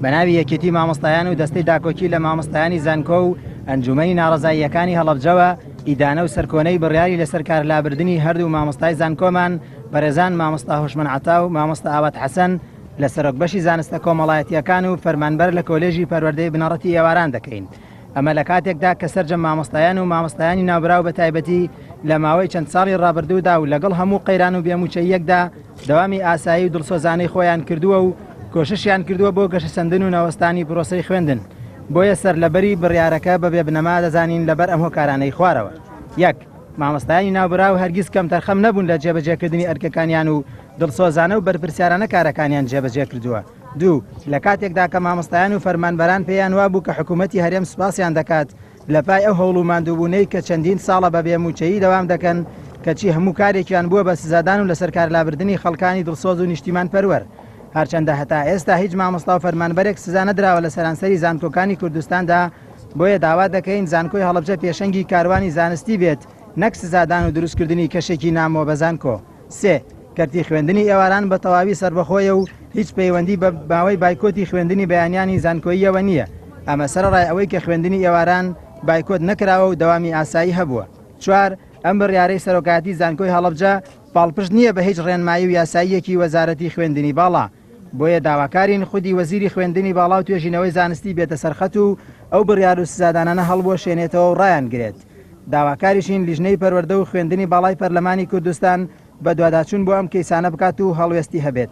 بەناوی یەکێتی مامۆستایان و دەستەی داکۆکی لە مامۆستایانی زانکۆ و ئەنجومەنی ناڕزاییەکانی هەڵەبجەوە ئیدانە و سەرکۆنەی بڕیاری لەسەر کارلابردنی هەردوو مامۆستای زانکۆمان بەرێزان مامۆستا هۆشمەن عەتا و مامۆستا ئاوات حەسەن لە سەرۆک بەشی زانستە کۆمەڵایەتییەکان و فەرمانبەر لە کۆلێژی پەروەردەی بنەڕەتی ئێواران دەکەین ئەمە لە کاتێکدا کە سەرجەم مامۆستایان و مامۆستایانی ناوبراو بە تایبەتی لە ماوەی چەند ساڵی ڕابردوودا و لەگەڵ هەموو قەیران و بێموچەییەکدا دەوامی ئاسایی و دڵسۆزانەی خۆیان کردووە و کۆششیان کردووە بۆ گەشەسەندن و نەوەستانی پرۆسەی خوێندن بۆیە سەرلەبەری بڕیارەکە بە بێبنەما دەزانین لەبەر ئەم هۆکارانەی خوارەوە یەک مامۆستایانی ناوبراو هەرگیز کەمتەرخەم نەبوون لە جێبەجێکردنی ئەرکەکانیان و دڵسۆزانە و بەرپرسیارانە کارەکانیان جێبەجێ کردووە دوو، لە کاتێکدا کە مامۆستایان و فەرمانبەران پێیان وابوو کە حکوومەتی هەرێم سوپاسیان دەکات لەپای ئەو هەوڵ و ماندووبوونەی کە چەندین ساڵە بە بێ مووچەیی دەوام دەکەن، کەچی هەموو کارێکیان بووە بە سزادان و لەسەرکارلابردنی خەڵکانی دڵسۆز و نیشتیمانپەروەر. هەرچەندە هەتا ئێستا هیچ مامۆستا و فەرمانبەرێک سزا نەدراوە لە سەرانسەری زانکۆکانی کوردستاندا، بۆیە داوا دەکەین زانکۆی هەڵەبجە پێشەنگی کاروانی زانستی بێت نەک سزادان و دروستکردنی کەشێکی نامۆ بە زانکۆ. سێ، کەرتی خوێندنی ئێواران بە تەواوی سەربەخۆیە و هیچ پەیوەندی بە ماوەی بایکۆتی خوێندنی بەیانیانی زانکۆییەوە نییە، ئەمە سەرەڕای ئەوەی کە خوێندنی ئێواران بایکۆت نەکراوە و دەوامی ئاسایی هەبووە. چوار، ئەم بڕیارەی سەرۆکایەتی زانکۆی هەڵەبجە پاڵپشت نییە بە هیچ ڕێنمایی و یاساییەکی وەزارەتی خوێندنی باڵا. بۆیە داواکارین خودی وەزیری خوێندنی باڵا و توێژینەوەی زانستی بێتە سەرخەت و ئەو بڕیار و سزادانانە هەڵبوەشێنێتەوە و ڕایانگرێت. داواکاریشین لیژنەی پەروەردە و خوێندنی باڵای پەرلەمانی کوردستان بەدواداچوون بۆ ئەم کەیسانە بکات و هەڵوێستی هەبێت.